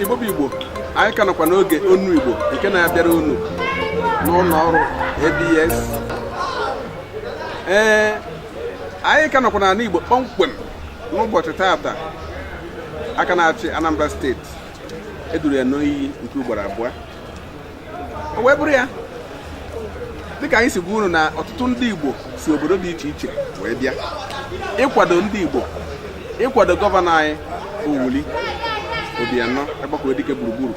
igbo bụ igbo anyị ka nọkwa n'oge Ọnụ Igbo nke na-abịara unu n'ụlọ ọrụ abs ee anyị ka nọkwa n'ala igbo kpọmkwem n'ụbọchị tata aka na-achị anambra steeti eduru ya n'iyi nke ugboro abụọ o wee bụrụ ya dịka anyị si gwa unu na ọtụtụ ndị Igbo si obodo dị iche iche wee bịa ịkwado ndị Igbo ịkwado gọvanọ anyị Willie Obianọ Akpokuedike gburugburu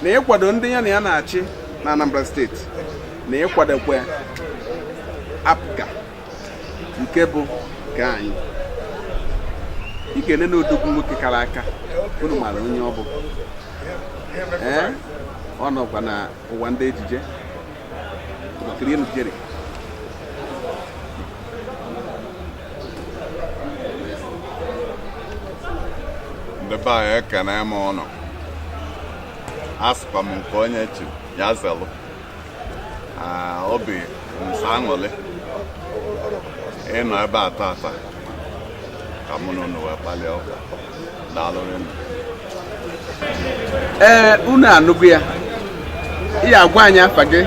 na ịkwado ndị ya na ya na-achị na Anambra steeti na ịkwadokwa APGA nke bụ nke anyị ị ga-ene na odogwu nwoke kara aka unu mara onye ọ bụ ee ọ nọkwa na ụwa ndị ejije ọkiri enu Jerry ndị be anyị ekene m ụnụ asịkwa m nke onye chi ya zelụ Ah, obi nso aṅụrị ịnọ ebe a tata ka mụ na unu wee kpalịa ụka daalụrị nụ ee unu anụgo ya ị ga-agwa anyị afa gị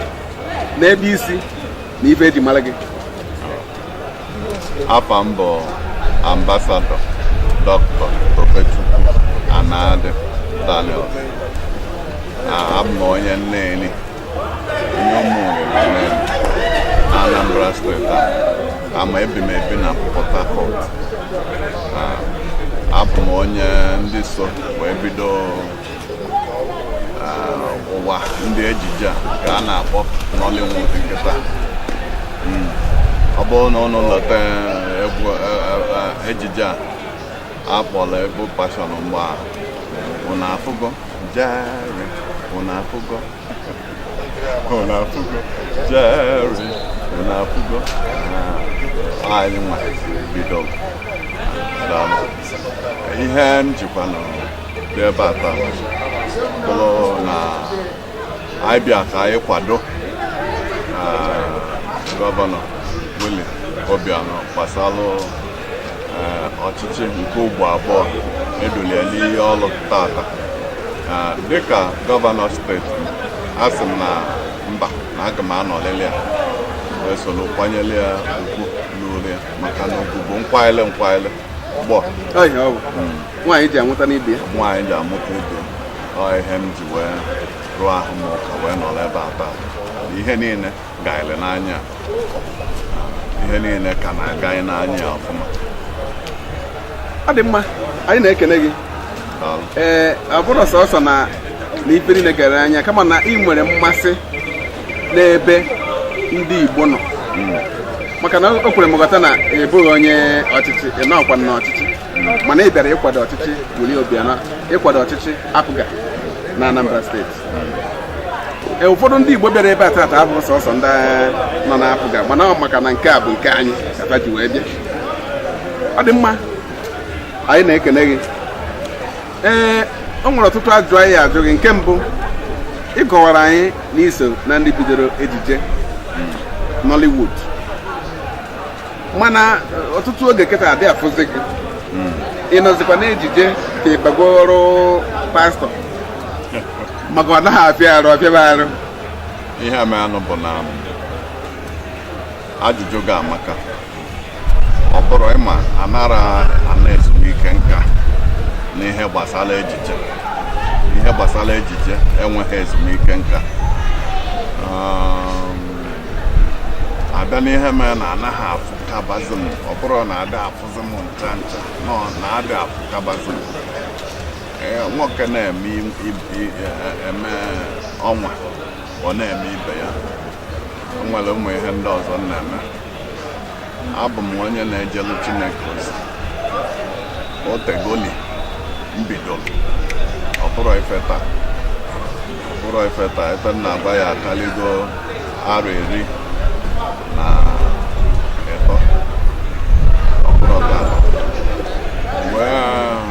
na ebe i si na ife e ji mara gị afa m bụ ambasadọ dọktọ Tobechukwu Anadị Daniel abụ m onye Neni onye Ụmụnri na Neni na Anambra steeti ama ebi m ebi na Port Harcourt abụ m onye ndị so wee bido ụwa ndị ejije a ka a na-akpọ Nollywood kịta hmm. ọ bụrụ na ụnụ lota eh, egwu eh, eh, ejije a a kpọrọ Evil Passion mgbe a ụnụ afụgo Jerry ụnụ afụgo ụnụ afụgo Jerry ụnụ afụgo ah, anyị nwa bido ihe m jikwa nọlụ n'ebe a taa bụrụ na anyị bịa ka anyị kwado eh, gọvanọ Willie Obianọ gbasalụ eh, ọchịchị nke ugbo abụọ edulu ya n'iyi ọlụ tata Eh, dịka gọvanọ steeti asị m na mba na aga m anọlịlị ya wee soro kwanyere ya ugwu luuru ya maka na ugwu bụ nkwanyere nkwanyere ọgbọ nwaanyị ji amụta n'ibe ya nwaanyị ji amụta ibe ọ ihe m ji wee rụọ ahụ m ụka wee nọrọ ebe a taa ihe niile gaịrị n'anya ihe niile ka na-aga anyị n'anya ya ọfụma ọ dị mma anyị na-ekene gị ee ọ bụrọ sọsọ na na ife niile gara n'anya kama na ị nwere mmasị n'ebe ndị Igbo nọ maka na o kwere m nghọta na ị bụghị onye ọchịchị ị nọkwa na ọchịchị mana ị bịara ịkwado ọchịchị Willie Obiano ịkwado ọchịchị APGA na Anambra steeti e, ụfọdụ ndị Igbo bịara ebe a taata abụghị sọsọ ndị nọ na APGA mana ọ maka na nke a bụ nke anyị kpata ji wee bịa ọ dị mma anyị na-ekene gị ee o nwere ọtụtụ ajụjụ anyị ya-ajụ gị nke mbụ ị kọwara anyị na i so na ndị bidoro ejije Nollywood mana ọtụtụ oge kịta adị afụzi gị ị nọzikwa n'ejije ka ị bago ọrụ pastọ maka ọ naghị afịa arụ ọ fịaba arụ ihe menụ bụ na ajụjụ gị amaka ọ bụrụ ị ma anara ana ezumike nka n'ihe gbasara ejije ihe gbasara ejije enweghị ezumike nka Um, a bịa n'ihe mere na anaghị afụkabazi m ọ bụrọ na adị afụzi m ncha ncha na ọ na adị afụkabazi m Ee, nwoke na-eme im- im- i- e- e- eme ọnwa ọ na-eme ibe ya o nwere ụmụ ihe ndị ọzọ m na-eme abụ m onye na-ejelu Chineke ozi o tegoli m bidoro ọ bụrọ ife taa ọ bụrọ ife taa ebe m na-agba ya akaligo arọ iri na ịtọ ọ bụrọ taa wee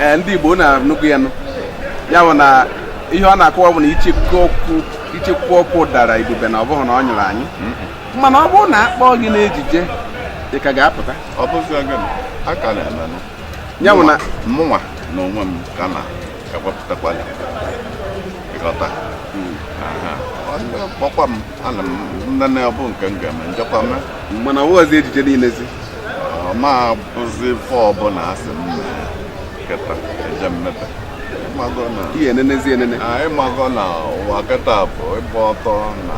ee ndị Igbo na-anụkwu ya nụ ya bụ na ihe ọ na-akọwa bụ na icheku ọkụ dara ibube na ọ bụghị na ọ nyụrụ anyụ mana ọ bụrụ na a kpọọ gị n'ejije ị ka ga-apụta ya bụ na mụnwa n'onwe m ka na-ewepụtakwa ya ị ghọta hmm. kpọkwa m ana m nene ọ bụ nke m ga-eme m jekwa mee mana ọ bụghịzi ejije niilezi ọ ma bụzi ife ọbụla a sị m mee kịta eje m mebe ị mago na ihe enenezi enene Ah, ị mago na ụwa kịta bụ ịgba ọtọ na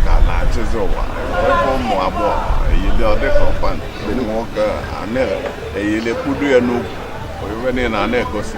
ka na-achịzi ụwa ebe ụmụ agbọghọ eyili ọ dịka akwa ndị nwoke a na-eyili kpudo ya n'ukwu ife niile a na-egosi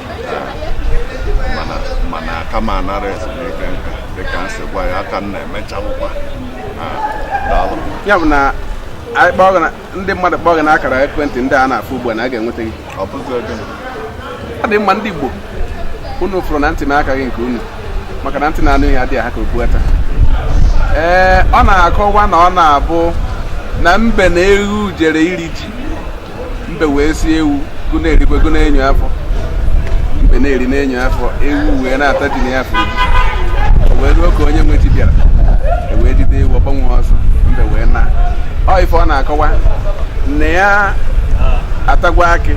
mana aka m anara ezumike nka dịka m si gwa ya aka m na-emechalụkwa daalụ ya bụ na ndị mmadụ kpọọ gị n'akara ekwentị ndị a na-afụ ugbu a na a ga-enweta gị ọ bụzi oge ọ dị mma ndị Igbo unu fụrụ na ntị m akaghị nke unu maka na ntị na-anụ ihe adịghị aha ka okpu ata ee ọ na-akọwa na ọ na-abụ na mbe na ewu jere iri ji mbe wee sị ewu gụ na-erikwe gụ na-enyo afọ mbe na-eri na-enyo afọ ewu wee na-ata ji na ya afọ o wee ruo ka onye nwe ji bịara e wee jide ewu ọ gbanwe ọsọ mbe wee naa ọ ife ọ na-akọwa na ya atagwo akị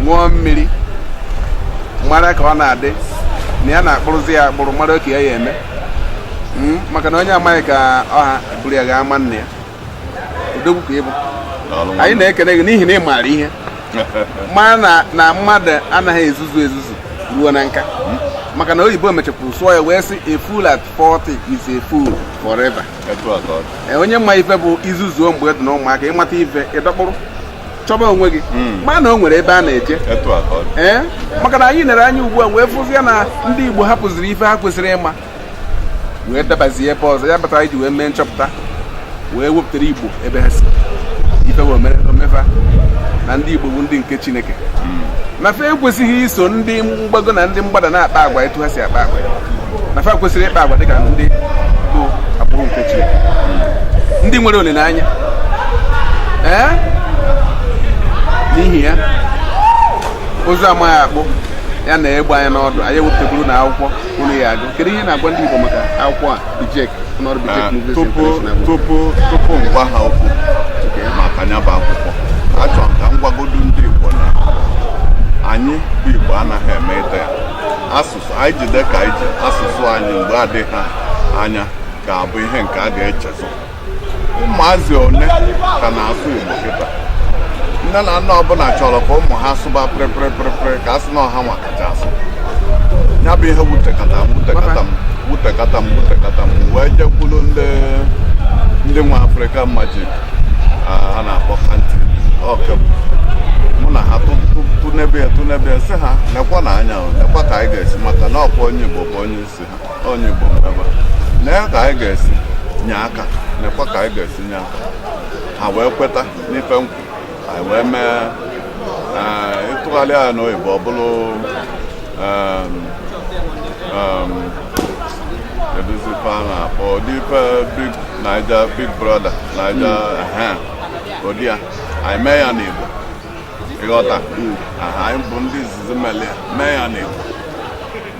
ṅụọ mmiri mara ka ọ na-adị na ya na-akpụrụzi ya akpụrụ mara oke ya ya-eme Mm, maka na onye amaghị ka ọ ha e buru ya gaa ama nna ya odogwu ka ị bụ anyị na-ekene gị n'ihi na ị maara ihe ma na mmadụ anaghị ezuzu ezuzu ruo na nka maka na oyibo mechapụrụ sụọ ya wee sị a fool at 40 is a fool forever e, onye ma ife bụ i zuzuo mgbe ị dị na ụmụaka ị mata ife ị dọkpụrụ chọba onwe gị hmm. ma na o nwere ebe a na-eje ee eh? maka na anyị nere anya ugbu a wee fụzie na ndị Igbo hapụziri ife ha kwesịrị ịma wee dabazie ebe ọzọ ya kpatara i ji wee mee nchọpụta wee wepụtara igbo ebe ha si ife wee mere omefa na ndị igbo bụ ndị nke chineke na fa ekwesịghị iso ndị mgbago na ndị mgbada na-akpa agwa etu ha si akpa agwa na fa kwesịrị ịkpa agwa dịka ndị bụ agbụrụ nke chineke ndị nwere olileanya ee n'ihi ya ụzụ amaghị akpụ ya nee egbe anya n'ọdụ anyị ewepụtagoro unu akwụkwọ unu ya-agụ kedu ihe ị na-agwa ndị Igbo maka akwụkwọ a Bijek ọnọrụ Bijek ah, Movies International tupu tupu m gwa ha okwu maka ya bụ akwụkwọ achọrọ m ka m gwagodu ndị Igbo na anyị bụ Igbo anaghị emeta ya asụsụ anyị jide ka anyị ji asụsụ anyị mgbe adịghị anya ga-abụ ihe nke a ga-echezọ ụmụazị one ka na-asụ Igbo kịta nne na nna ọbụla chọrọ ka ụmụ ha sụba pịrịpịrịpịrịpịrị ka a sị na ọ hanwa kacha asụ ya bụ ihe wutekata m wutekata m wutekata m wutekata m wee jekwuru ndị ndị nwe Africa Magic a na-akpọ kanti ọkebụ mụ na ha tụnebe ya tụnebe ya sị ha nekwanụ anya nekwa ka anyị ga-esi maka na ọkwa onye igbo bụ onye isi onye Igbo ngaba nee ka anyị ga-esi nye aka nekwa ka anyị ga-esi nye aka ha wee kweta n'ife m kwu anyị wee mee eh, ị tụgharịa ya n'oyibo ọ bụrụ em, em, keduzi ife a na-akpọ ụdị ife big naija big brother naija ehe, ụdị ya anyị mee ya n'igbo ị ghọta Aha, anyị bụ ndị izizi mele ya mee ya n'igbo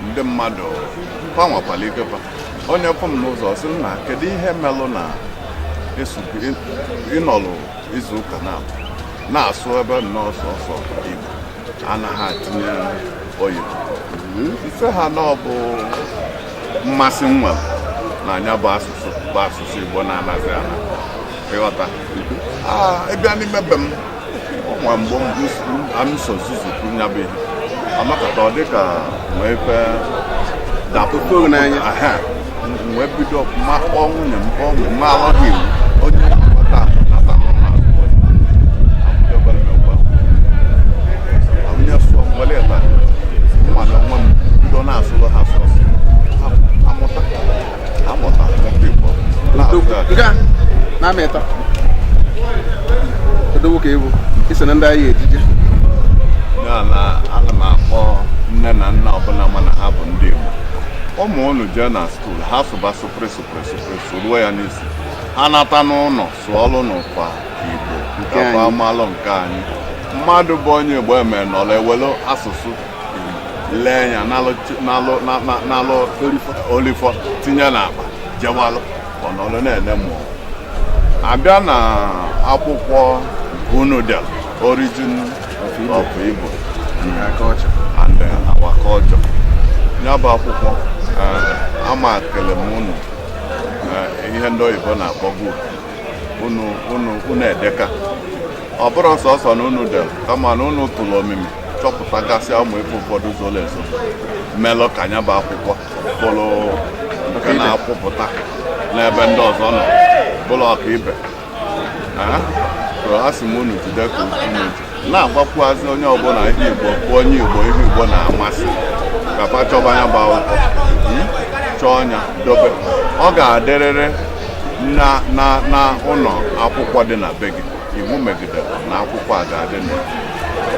ndị mmadụ fa nwakwala ike fa onye fụ m n'ụzọ sị na kedu ihe melụ na ị nọlụ izu ụka naabọ na-asụ ebe nnọọ sọsọ igbo anaghị atinye oyibo m sị ha na ọ bụ mmasị m nwelu na nya bụ asụsụ bụ asụsụ igbo na-anazi ana ị ghọta ị bịa n'ime be m nwa mgbe m so nzuzu kwuru ya bụ ihe amakọta ọ dịka nwee ife dapụta n'anya wee bido ọfụma kpọọ nwunye m kpọọ nwunye m alọghị iwu onye nata nata onye sụọ mgbele ịta mmanụ nwa m bido na-asụrụ ha sọsọ na-amịta odowo ka ị bụ i so na ndị anyị ejije ana m akpọ nne na nna ọbụla mana ha bụ ndị Igbo ụmụ unu jee na skuul ha sụba sụpịrị sụpịrị sụpịrị sụruo ya n'isi ha nata n'ụlọ sụọlụnụkwa Igbo nke ọkwa a malụ nke anyị mmadụ bụ onye Igbo eme nọrọ ewelu asụsụ lee ya n'alụ o lifọ tinye n'akpa jewalụ ọ nọlụ na-ene mmụọ a bịa na akwụkwọ unu delu origin of Igbo and our culture ya bụ akwụkwọ eh, ama kele m unu eh, ihe ndị oyibo na-akpọbu unu edeka ọ bụrọ sọsọ na unu dere kama na unu tụrụ omimi chọpụtagasịa ụmụ ife ụfọdụ zoro ezo melụ ka nya bụ akwụkwọ bụrụ nke na-akwụpụta n'ebe ndị ọzọ nọ bụrụ ọkaibe Ee, so a sị m unu jide ka unu ji na-agwakwuazị onye ọbụla ihe igbo bụ onye igbo ihe igbo na-amasị ka fa chọba nya bụ akwụkwọ Mm? chọọ nya dobe ọ ga-adịrịrị na na na ụlọ akwụkwọ dị na be gị iwu megidere na akwụkwọ a ga-adị na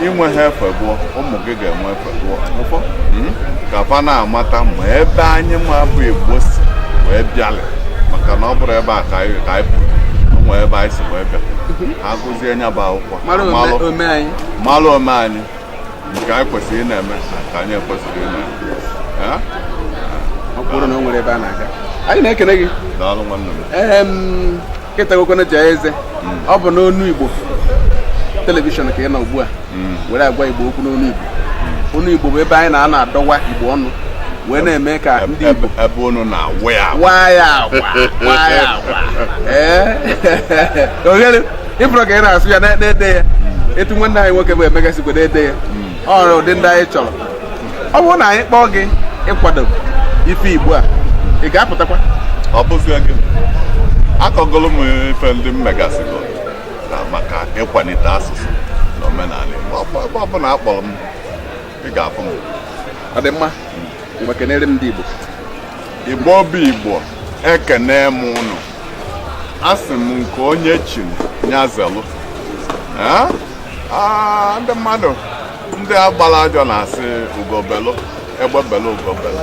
inwe ha efe gụọ ụmụ gị ga-enwe efe gụọ hmm? ka fa na-amata ma ebe anyị nwa bụ igbo si wee bịalị maka na ọ bụrọ ebe a ka anyị pụrụ nwee ebe anyị si wee bịa ha gụzie nya bụ akwụkwọ malụ omenanị nke anyị kwesịrị ị na-eme nke anyị ekwesịrọ ị na-eme ọ bụrụ na o nwere ebe a na-aga anyị na-ekene gị daalụ nwanne m ketagokwana jaa eze ọ bụ n'onu igbo telivishọn ka ị nọ ugbu a were agwa igbo okwu n'onu igbo onu igbo bụ ebe anyị na-anọ adọwa igbo ọnụ wee na-eme ka ndị igbo Ebe- ebe unu na-awụ ya awụ. waa ya agwa waa ya agwa ee ohere ịbụrụ ka ị na-asụ ya na-ede ya etu nwanne anyị nwoke bụ Emeka si wee na-ede ya ọ bụ ụdị ndị anyị chọrọ ọ bụrụ na anyị kpọọ gị ịkwado ife igbo a ị ga-apụtakwa ọ bụzi gị akọgolo m ife ndị m megasịgo na maka ịkwalite asụsụ na omenala Igbo Ọ bụ- ebe ọ bụla a kpọrọ m ị ga-afụ m ọ dị mma ngwa kenere m ndị igbo Igbo bụ Igbo ekene m ụnụ asị m nke onye chiri nya zelụ ndị mmadụ ndị agbara ajọ na-asị ugo belụ egbe belụ ugo belụ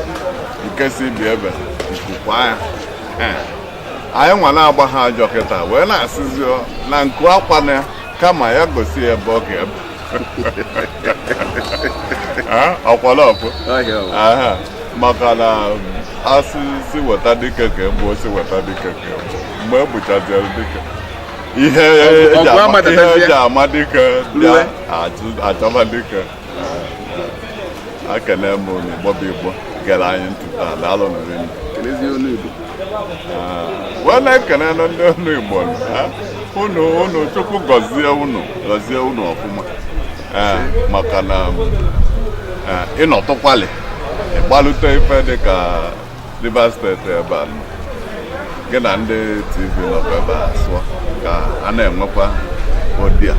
nke sị ibe ebe nku kwaa ya anyị nwa na-agba ha ajọ kịta wee na-asịzi na nku akwana ya kama ya gosi ya ebe ọ ga-ebe ọkwalọpụ maka na a sị sị weta dike ka e gbuo sị weta dike ka e gbuo mgbe e gbuchaziri dike ihe e ji ama dike bịa a chọba dike ekene m unu igbo bụ igbo gere anyị ntị taa daalụ nụ wee na-ekene na ndị onu Igbo unu Chukwu gọzie unu ọfụma maka na ị nọtụkwalị ị gbalute ife dị ka Rivers steeti ebe a gị na ndị TV nọkwa ebe a sụọ ka a na-enwekwa ụdị a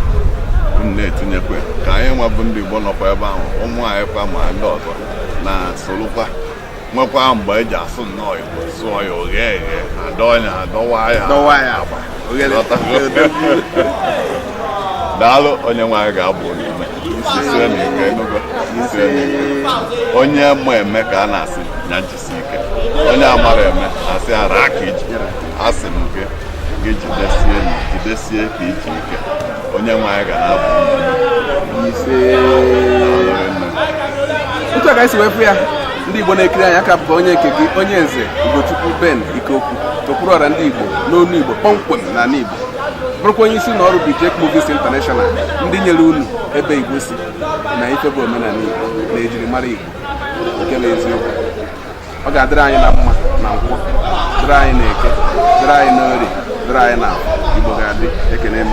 unu na-etinyekwa ka anyị nwa bụ ndị Igbo nọkwa ebe ahụ ụmụ anyị kwa ma ndị ọzọ na-esolukwa nwekwaa mgbe e ji asụ nnọọ igbo sụọ ya oghe eghe adọọ ya adọwa ya dọwa ya agba oghere daalụ onye nwe anyị ga-agba unu ume jisie nụ ike ị nụgo jisie nụ ike onye ma eme ka a na-asị ya jisi ike onye amarọ eme a sị ya raa aka iji asị m gị gị jidesie na jidesie ka iji ike onye nwe anyị ga na-abụ ise otu a ka esi wepụ ya ndị igbo na-ekiri anyị a ka bụkwa onye nke gị onye nze ugochukwu ben ikeokwu okpuru ọra ndị igbo n'olu igbo kpọmkwem na ala igbo bụrụkwa onye isi na ọrụ Bijek Movies International ndị nyere unu ebe igbo si na ife bụ omenala igbo na ejirimara igbo nke bụ eziokwu ọ ga-adịrị anyị na mma na nkwọ dịrị anyị na eke dịrị anyị na orie dịrị anyị na igbo ga-adị ekene m